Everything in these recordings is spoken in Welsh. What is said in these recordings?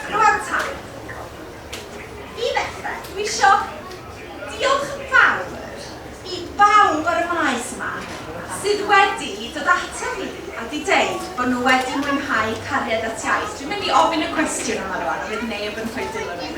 Rwan ta, i ddechrau, dwi isio diolch yn fawr i bawb ar y maes yma sydd wedi dod ata fi a wedi deud bod nhw wedi mwynhau Cariad at Iaith. Dwi'n mynd i ofyn y cwestiwn yma rwan, bydd neb yn rhoi dil o ni.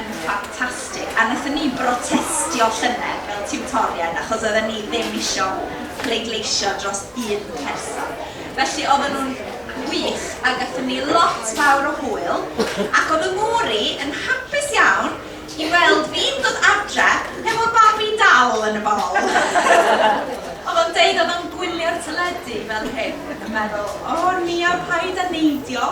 yn ffantastig. A wnaethon ni brotestio llynedd fel tiwtoriaid achos oedden ni ddim isio pleidleisio dros un person. Felly oedden nhw'n wych a gaethon ni lot fawr o hwyl ac oedd fy ngŵr i yn hapus iawn i weld fi'n dod adre hefo babi dal yn y bol! Oedd o'n deud oedd o'n gwylio'r teledu fel hyn yn meddwl 'O Nia paid â neidio'.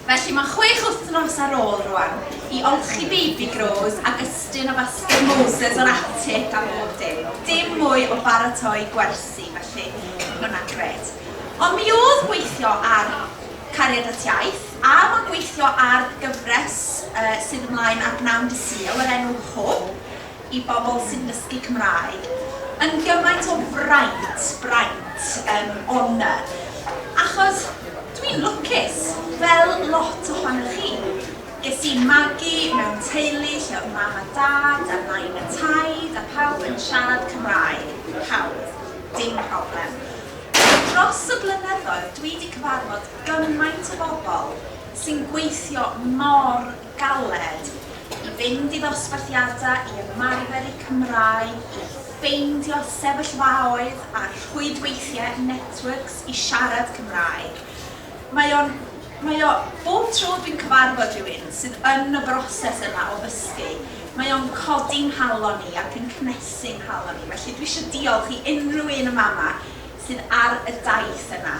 Felly mae chwech wythnos ar ôl rwan i olchi baby grows ac ystyn o fasged Moses o'r atig a bob dim. Dim mwy o baratoi gwersi felly ma' hwnna'n grêt. Ond mi o'dd gweithio ar Cariad at Iaith a ma' gweithio ar gyfres yy sydd ymlaen ar bnawn dy' Sul o'r enw Hwb, i bobl sy'n dysgu Cymraeg yn gymaint o fraint, braint, yym, honour, achos dwi'n lwcus, fel lot ohonoch chi. Ges i magu mewn teulu lle oedd mam a dad a nain a taid a pawb yn siarad Cymraeg, pawb, dim problem. Ond dros y blynyddoedd dwi 'di cyfarfod gymaint o bobl sy'n gweithio mor galed i fynd i ddosbarthiadau i ymarfer eu Cymraeg, i ffeindio sefyllfaoedd a rhwydweithiau a networks i siarad Cymraeg. Mae o'n, mae o, bob tro dwi'n cyfarfod rhywun sydd yn y broses yna o ddysgu, mae o'n codi 'nghalon i ac yn cnesu 'nghalon i, felly dwi eisiau diolch i unrhyw un yn fama sydd ar y daith yna.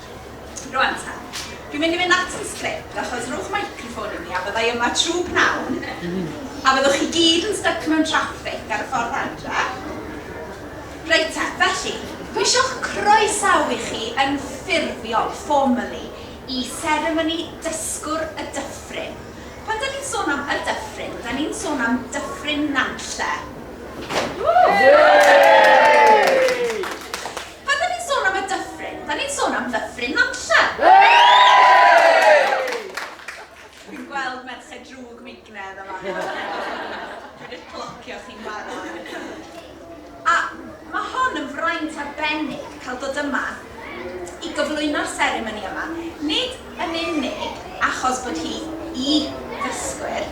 Rwan ta, dwi'n mynd i fynd at yn script achos rhowch microffon i mi a fyddai yma trw pnawn a fyddwch chi gyd yn styc mewn traffig ar y ffordd adra. Reit ta, felly, dwi isio'ch croesawu chi yn ffurfiol, formally, i seremoni Dysgwr y Dyffryn. Pan 'dan ni'n sôn am y Dyffryn, 'dan ni'n sôn am Dyffryn Nantlle. Ww! Yay! Pan 'da ni'n sôn am y dyffryn, 'da ni'n sôn am ddyffryn Nantlle! Dwi'n gweld Merched Drwg Meignedd yn fan'na. Dwi 'di clocio chi'n barod. A ma' hon yn fraint arbennig cael dod yma i gyflwyno'r seremoni yma. Nid yn unig achos bod hi i ddysgwyr,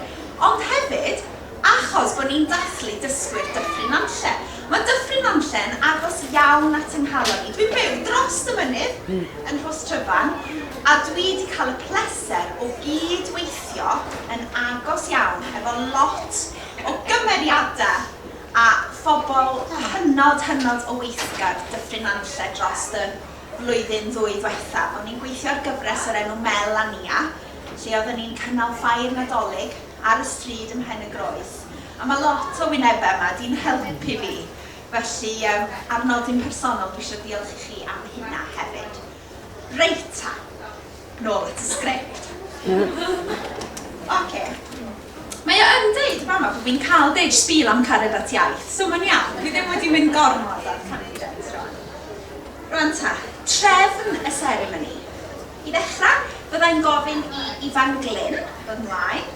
ond hefyd achos bod ni'n dathlu dysgwyr Dyffryn Nantlle. Mae Dyffryn Nantlle yn agos iawn at 'y nghalon i. Dwi'n byw drost y mynydd yn Rhostryfan a dwi 'di cael y pleser o gyd-weithio yn agos iawn efo lot o gymeriadau a phobl hynod, hynod o weithgar Dyffryn Nantlle drost y Flwyddyn ddwy dwethaf, o'n i'n gweithio ar gyfres o'r enw Mel a Nia, lle oedden ni'n cynnal ffair Nadolig ar y stryd ym Mhen-y-groes, a mae lot o wynebau yma 'di'n helpu fi, felly yym ar nodyn personol dwi isio diolch i chi am hynna hefyd. Reit ta! Nôl at y sgript. Ocê. Mae o yn deud yn fama bod fi'n cael deud spiel am cariad at iaith, so mae'n iawn, dwi ddim wedi mynd gormod ar tangents rwan. Rwan ta, trefn y seremoni. I ddechrau, fydda i'n gofyn i Ifan Glyn ddod ymlaen,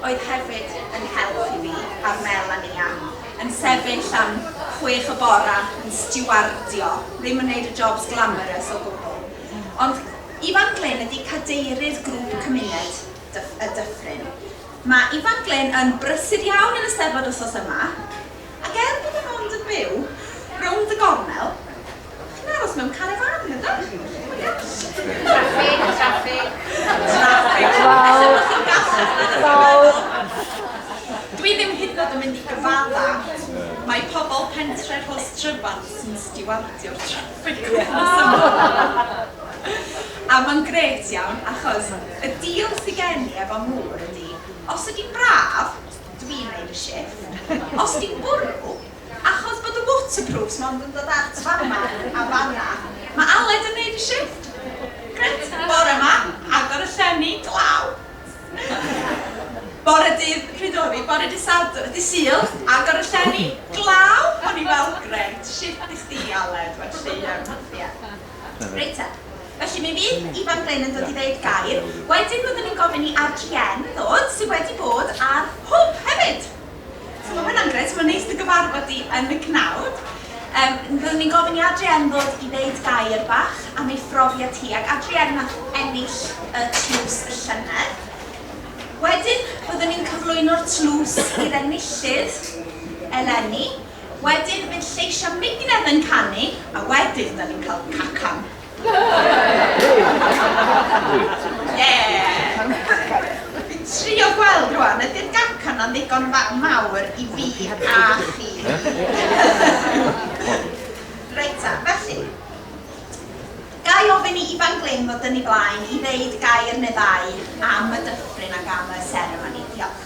oedd hefyd yn help i fi ar Mel a Nia, yn sefyll am chwech y bore yn stiwardio, ddim yn wneud y jobs glamorous o gwbl. Ond Ifan Glyn ydi cadeirydd grŵp cymuned y Dyffryn. Mae Ifan Glyn yn brysur iawn yn y Steddfod wsos yma, ac er bod e mond yn byw rownd y gornel, chi'n aros mewn carafan, yn ydach? Ia? Traffig, traffig. Traffig. Wel, wel, dwi ddim hyd yn oed yn mynd i gyfadda, mae pobl pentre Rhos Tryfan sy'n stiwardio'r traffig. A mae'n grêt iawn achos y deal sy gen i efo Moore ydy os ydy'n braf, dwi'n wneud y shift, os ydy'n bwrw, achos bod y waterproofs mond yn dod at fama a fanna, mae Aled yn wneud y shift! Grêt! Bore 'ma, agor y llenni, glaw! Bore dydd Rhydori, bore dydd Sadwrn, dydd Sul, agor y llenni, glaw, o'n i fel grêt, shit i chdi Aled, wel llu iawn hwnnw, ie. Reit te, felly mi fydd Ifan Glyn yn dod i ddeud gair, wedyn fyddwn ni'n gofyn i RGN ddod, sydd wedi bod ar Hwb hefyd! So mae hwnna'n grêt, mae'n neis dy gyfarfod di yn y cnawd. Um, Fyddwn ni'n gofyn i Adrienne ddod i ddeud gair bach am ei phrofiad hi, ac Adrienne nath ennill y tlws y llynedd. Wedyn, byddwn ni'n cyflwyno'r tlws i'r enillydd eleni. Wedyn, bydd lleisiau Mignedd yn canu, a wedyn, da ni'n cael cacan. Ie! Fi'n trio gweld rwan, ydy'r gacen na'n ddigon fa- mawr i fi a chi? Reit ta, felly, ga i ofyn i Ifan Glyn ddod yn ei flaen i ddeud gair neu ddau am y dyffryn ac am y seremoni? Diolch.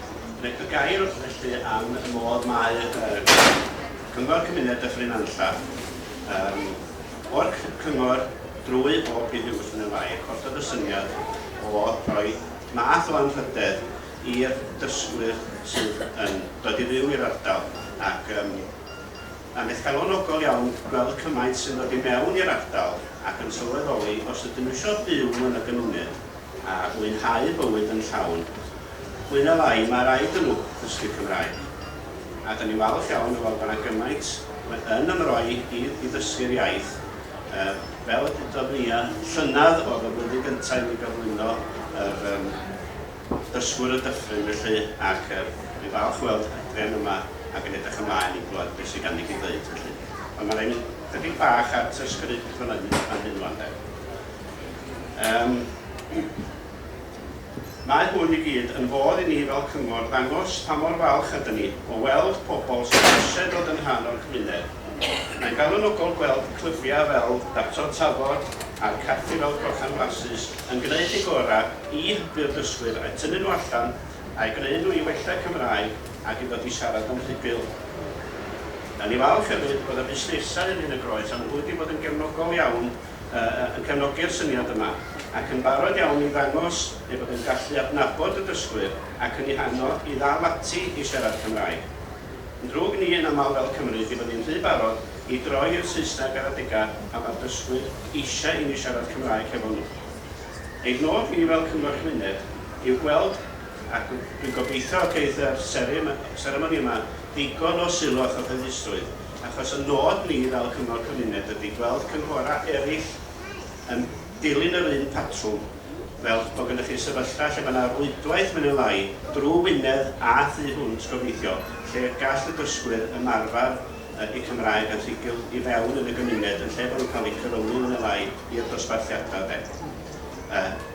Reit, y gair felly am y modd mae uh, Cyngor Cymuned Dyffryn Nantlla um, o'r cyngor drwy bob pryd i'w gwestiwn yn fai, costodd y syniad o roi math o anrhydedd i'r dysgwyr sydd yn dod i fyw i'r ardal ac um, Mae'n beth galonogol iawn gweld cymaint sy'n dod i mewn i'r ardal ac yn sylweddoli os ydyn nhw eisiau byw yn y gymuned a mwynhau bywyd yn llawn. Mwy na lai, mae raid i nhw ddysgu Cymraeg. A 'da ni'n falch iawn o weld bod 'na gymaint yn ymroi i i ddysgu'r iaith. Fel y dudodd Nia, llynedd oedd y flwyddyn gyntaf i mi gyflwyno yr yym dysgwr y dyffryn felly, ac yy dwi'n falch o weld Adrian yma ac yn edrych ymlaen i glywed beth sydd ganddi i ddeud felly. Ond mae'n rhoi ni ychydig bach at y sgript fan hyn wan 'de. Yym, mae hwn i gyd yn fodd i ni fel cyngor ddangos pa mor falch ydyn ni o weld pobl sydd eisiau dod yn rhan o'r cymuned. Mae'n galonogol gweld clybiau fel Daptod Tafod a'r caffi fel Crochan Flasus yn gwneud eu gorau i hybu'r dysgwyr a'u tynnu nhw allan a'u gwneud nhw i wella'u Cymraeg ac i ddod i siarad yn rhugl. Da ni falch hefyd bod y busnesau yn Nhŷ-yn-y-groes am fod wedi bod yn gefnogol iawn yn cefnogi'r syniad yma ac yn barod iawn i ddangos ei fod yn gallu adnabod y dysgwyr ac yn eu hannog i ddal ati i siarad Cymraeg. Yn ddrwg ni yn aml fel Cymry byddwn ni'n rhy barod i droi i'r Saesneg ar adegau pan mae'r dysgwyr eisiau i ni siarad Cymraeg hefo nhw. Ein nod ni fel Cyngor Cymuned yw gweld, ac dwi'n gobeithio y geith yr seremoni yma ddigon o sylw a chyhoeddusrwydd, achos y nod ni fel Cyngor Cymuned ydy gweld cynghorau eraill yn dilyn yr un patrwm, fel bod gennych chi sefyllfa lle mae yna rwydwaith mwy neu lai drwy Wynedd a thu hwnt gobeithio, lle gall y dysgwyr ymarfer eu Cymraeg yn rhugl i fewn yn y gymuned yn lle bod nhw'n cael eu cyfyngu mwy neu lai i'r dosbarthiadau de.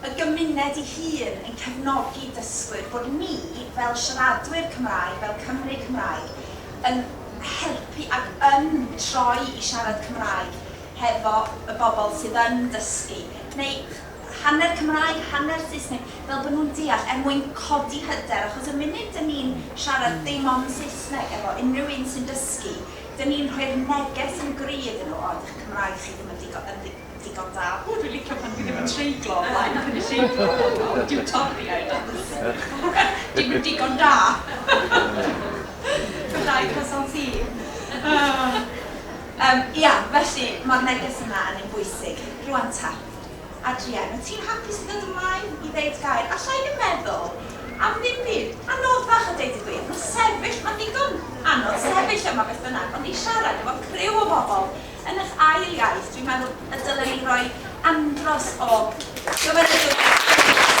y gymuned ei hun yn cefnogi dysgwyr, bod ni fel siaradwyr Cymraeg, fel Cymry Cymraeg, yn helpu ac yn troi i siarad Cymraeg hefo y bobl sydd yn dysgu, neu hanner Cymraeg, hanner Saesneg, fel bod nhw'n deall, er mwyn codi hyder, achos y munud dan ni'n siarad dim ond Saesneg efo unrhyw un sy'n dysgu, dan ni'n rhoi'r neges yn gry iddyn nhw, 'O, 'di'ch Cymraeg chi ddim yn ddigon, digon da. O dwi'n licio pan dwi ddim yn treiglo o flaen cynulleidfa honno, dyw Torïaid am ddim yn digon da! Ti'n dda i croissant ti! Yym, ia, felly, ma'r neges yna yn un bwysig. Rŵan ta, Adrian, wyt ti'n hapus i ddod ymlaen i ddeud gair? Alla i ddim meddwl am ddim byd anoddach a deud y gwir, ma' sefyll, ma'n ddigon anodd sefyll yma beth bynnag, ond i siarad efo criw o bobl, Yn eich ail iaith, dwi'n meddwl y dylen ni roi andros o gymeradwyaeth i'r Llywodraeth.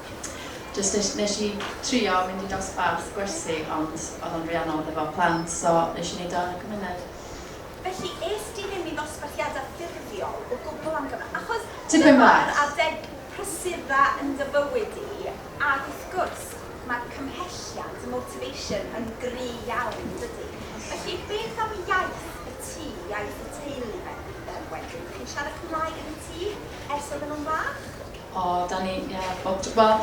jyst nes i trio mynd i dosbarth gwersi ond oedd o'n rhy anodd efo plant so nes i neud o yn y cymuned. Felly est ti ddim i ddosbarthiadau ffurfiol o gwbl am gyfnod? Achos... Tipyn bach. ...dyma'r adeg prysur dda yn dy fywyd di ac wrth gwrs mae cymhelliant, motivation, yn gry iawn yn dydi? Felly beth am iaith y tŷ, iaith y teulu fe- yym wedyn? Dych chi'n siarad Cymraeg yn y tŷ ers oedden nhw'n fach? O, da ni, ie, bob tro. Wel,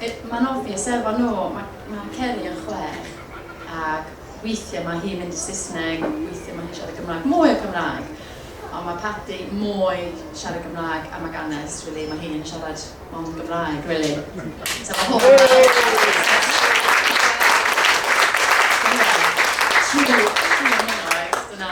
yy, mae'n obvious efo nhw, mae, mae Ceri yn chwech, ac weithiau mae hi'n mynd i Saesneg, weithiau mae hi'n siarad Gymraeg, mwy o Gymraeg. Ond mae Paddy mwy siarad Gymraeg am ag Anest, really, mae hi'n siarad mond Gymraeg, really. So mae hwn... Trwy, trwy hynny, oes, dyna...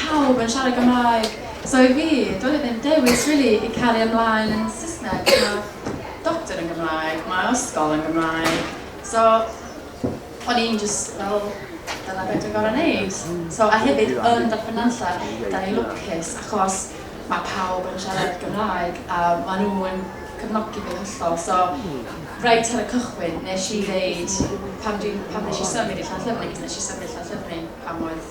pawb yn siarad Gymraeg so i fi doedd e ddim dewis rili i cario ymlaen yn Saesneg ma' doctor yn Gymraeg ma' ysgol yn Gymraeg so o'n i'n jyst fel dyna be' dwi'n gor'o' neud so a hefyd yn Dyffryn Nantlle 'dan ni'n lwcus achos ma' pawb yn siarad Gymraeg a ma' nhw yn cefnogi fi'n hollol so reit ar y cychwyn nesh i ddeud pan dwi'n pan nesh i symud i Llanllyfni nesh i symud i Llanllyfni pan oedd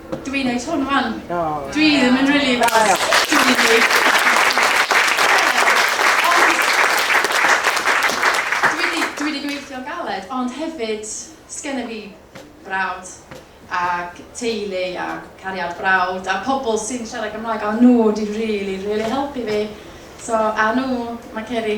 Dw i'n neud hwn wan. Oh. Dwi ddim yn really fast. Dw i'n neud... Dwi wedi gweithio'n galed, ond hefyd, sgynna fi brawd ac teulu a cariad brawd a pobl sy'n siarad Cymraeg a nhw wedi rili, rili helpu fi. So, a nhw, mae Ceri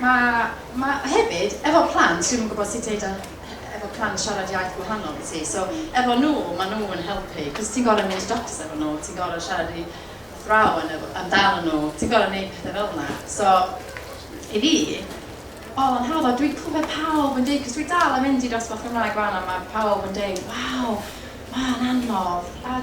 Ma, ma, hefyd, efo plant, dwi'm yn gwybod sut deud o efo plant siarad iaith gwahanol i ti, so efo nhw, ma nhw yn helpu, cos ti'n gorau mynd i doctors efo nhw, ti'n gorau siarad i athrawon efo, amdano nhw, ti'n gorau neud pethau fel yna, so i fi, oedd o'n hawdd, a dwi'n clywed pawb yn deud, cos dwi dal yn mynd i dosbarth Gymraeg 'wan, a ma pawb yn deud, waw, ma'n anodd, a,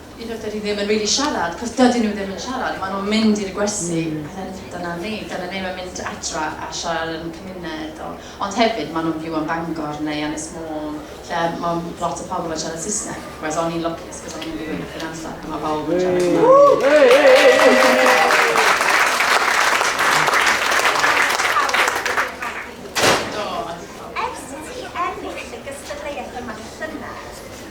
I rywbeth dydi ddim yn really siarad, cos dydyn nhw ddim yn siarad, maen nhw'n mynd i'r gwersi, mm. a then dyna ni, dyna ni, mae'n mynd adra a siarad yn cymuned. O. Ond hefyd, maen nhw'n byw yn Bangor neu Anis Môn, lle mae lot o pobl yn siarad Saesneg, whereas o'n i'n lwcus, cos o'n i'n byw yn y amser, mae pawb yn siarad Cymraeg.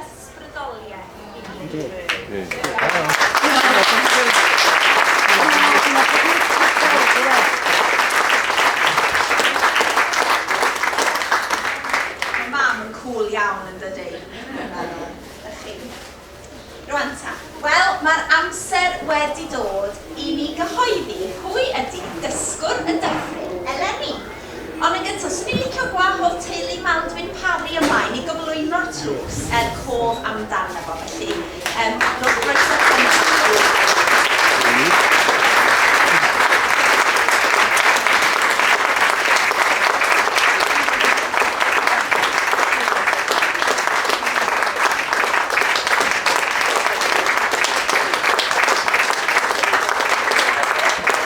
ysbrydoliaeth i ni. Mae mam yn cŵl iawn yn dydy? Ydych chi? Rwan ta. Wel, mae'r amser wedi dod i ni gyhoeddi pwy ydy dysgwr y dyffryn eleni. Ond yn gyntaf, 'swn i'n licio gwahodd teulu Maldwyn Parry ymlaen i gyflwyno'r tlws er cof amdano fo, felly yym rowch groeso cynnes i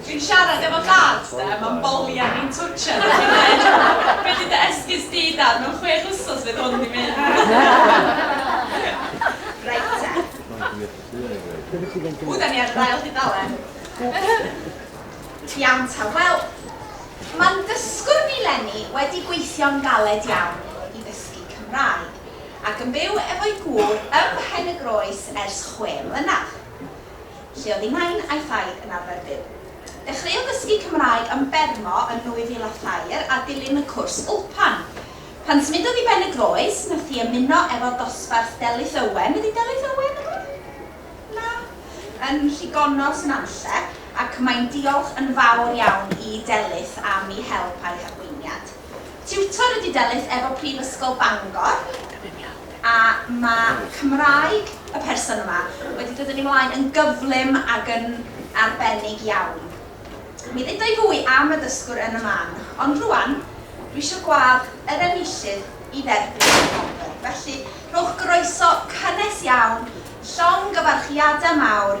Dwi'n siarad efo dad 'de, ma'n boli ar fi'n twtshad ac yn dweud 'be 'di dy esgus di dad, mewn chwech wsos fydd hwn 'di mynd! Reit te. Ww 'da ni ar yr ail dudalen! Iawn ta, wel, ma'n ddysgwr ni Leni wedi gweithio'n galed iawn i ddysgu Cymraeg ac yn byw efo'i gŵr ym Mhen-y-groes ers chwe mlynedd. lle oedd ei nain a'i thaid yn arfer byw. Dechreuodd ddysgu Cymraeg yn Bermo yn 2003 a dilyn y cwrs Ulpan. Pan symudodd i Ben-y-groes, nath hi ymuno efo dosbarth Delyth Owen, ydi Delyth Owen yn rwun? Na? yn Rhigonnos Nantlle ac mae'n diolch yn fawr iawn i Delyth am 'i help a'i harweiniad. Tiwtor ydy Delyth efo Prifysgol Bangor a mae Cymraeg y person yma wedi dod yn ei flaen yn gyflym ac yn arbennig iawn. Mi dduda i fwy am y dysgwr yn y man, ond rŵan dwi isio gwâdd yr enillydd i dderbyn y gwobr, felly rhowch groeso cynnes iawn, llongyfarchiadau mawr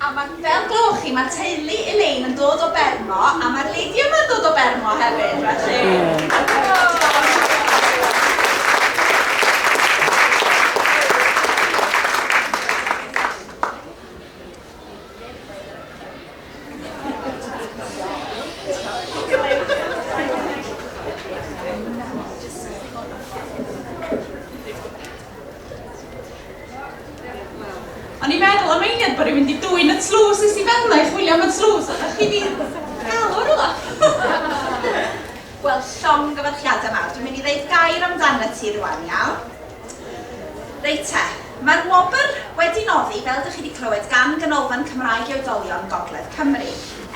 A ma, fel glywch chi, ma teulu Elaine yn dod o Bermo a ma'r lady yma'n dod o Bermo hefyd, felly. O'n i'n meddwl am eiliad bod rwy'n mynd i dwyn y tlws, es i fel 'na i chwilio am y tlws, ond o'ch chi 'di gael o rywle! Wel, llongyfarchiadau mawr. Dwi'n mynd i ddeud gair amdanat ti rwan, iawn? Reit te, mae'r wobr wedi noddi, fel dych chi wedi clywed, gan Ganolfan Cymraeg i Oedolion Gogledd Cymru,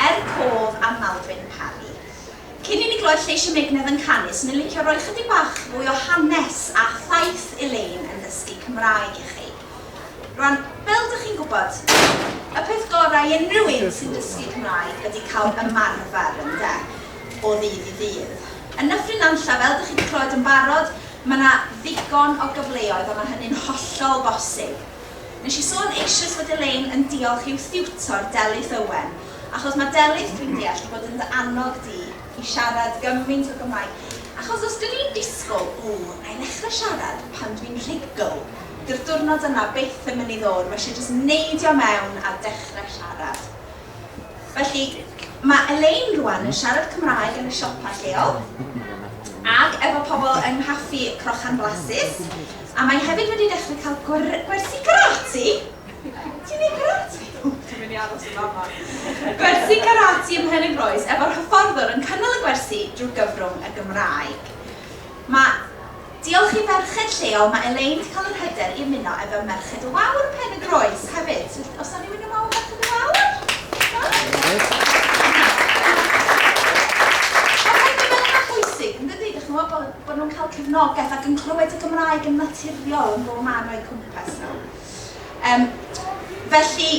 er cof am Maldwyn Parry. Cyn i ni glywed lleis y megnedd yn canu, 'swn i'n licio rhoi chydig bach fwy o hanes a thaith Elaine yn ddysgu Cymraeg i chi. Rwan, fel dych chi'n gwybod, y peth gorau i unrhyw un sy'n dysgu Cymraeg ydy cael ymarfer, ynde, o ddydd i ddydd. Yn Nyffryn Nantlle, fel dych chi wedi clywed yn barod, mae yna ddigon o gyfleoedd a mae hynny'n hollol bosib. Nes i sôn eisoes fod Elaine yn diolch i'w thiwtor Delyth Owen Achos mae Delyth dwi'n deall di bod yn dy annog di i siarad gymaint o Gymraeg. Achos os dwn i'n disgwl, ww, na i ddechrau siarad pan dwi'n rhugl, dyw'r diwrnod yna byth yn mynd i ddod, mae eisiau jyst neidio mewn a dechrau siarad. Felly, mae Elaine rwan yn siarad Cymraeg yn y siopa lleol ac efo pobl yng nghaffi Crochan Flasus a mae hefyd wedi dechrau cael gwersi karate! Ti'n neud karate? O, dwi'n mynd i aros yn fama. Gwersi karate ym Mhenygroes efo'r hyfforddwr yn cynnal y gwersi drwy gyfrwng y Gymraeg. Mae Diolch i ferched lleol mae Elaine 'di cael yr hyder i ymuno efo Merched y Wawr Pen-y-groes hefyd. So os na rywun yn wawr Merched y Wawr? Mae rhaid bod hynna'n bwysig yn dydi? Dych chi'n gwybod bod bod nhw'n cael cefnogaeth ac yn clywed y Gymraeg yn naturiol yn bob man o'u cwmpas nhw. Yym, felly,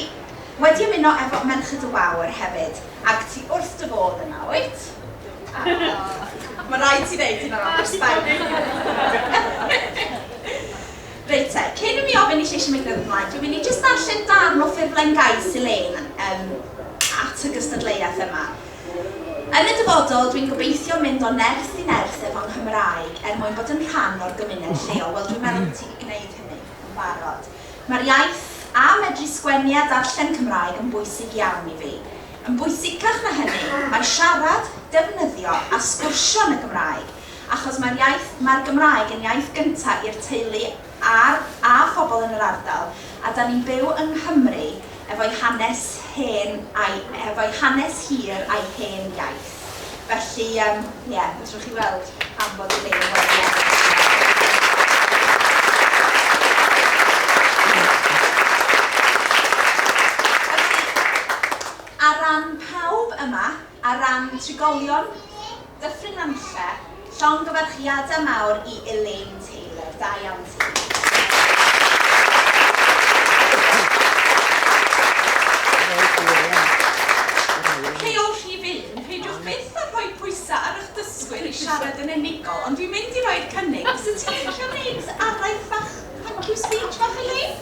wedi ymuno efo Merched y Wawr hefyd, ac ti wrth dy fodd yna, wyt? Aww. Mae'n rhaid ti ddeud hynna nawr, ers dau funud. Reit te, cyn i mi ofyn i Lleisi Miglwydd ymlaen, dwi'n mynd i jyst darllen darn o ffurflen gais Elaine yym at y gystadleuaeth yma. Yn y dyfodol, dwi'n gobeithio mynd o nerth i nerth efo'n Nghymraeg er mwyn bod yn rhan o'r gymuned lleol. Wel, dwi'n meddwl bod ti wedi gwneud hynny. yn barod. Mae'r iaith, a medru sgwennu a darllen Cymraeg yn bwysig iawn i fi. Yn bwysicach na hynny, mae siarad, defnyddio a sgwrsio yn y Gymraeg, achos mae'r iaith, mae'r Gymraeg yn iaith gynta' i'r teulu a'r, a phobl yn yr ardal, a 'da ni'n byw yng Nghymru, efo'i hanes hen a'i efo'i hanes hir a'i hen iaith. Felly yym ie, fedrwch chi weld pam bod y Lein wedi ennill. Felly, ar ran pawb yma, ar ran trigolion, Dyffryn Nantlle, llongyfarchiadau mawr i Elaine Taylor, da iawn ti. Heol rhif un, peidiwch byth â rhoi pwysau ar eich dysgwyr i siarad yn unigol, ond dwi'n mynd i roi'r cynnig, fyset ti'n licio wneud araith fach, thank you speech fach Elaine?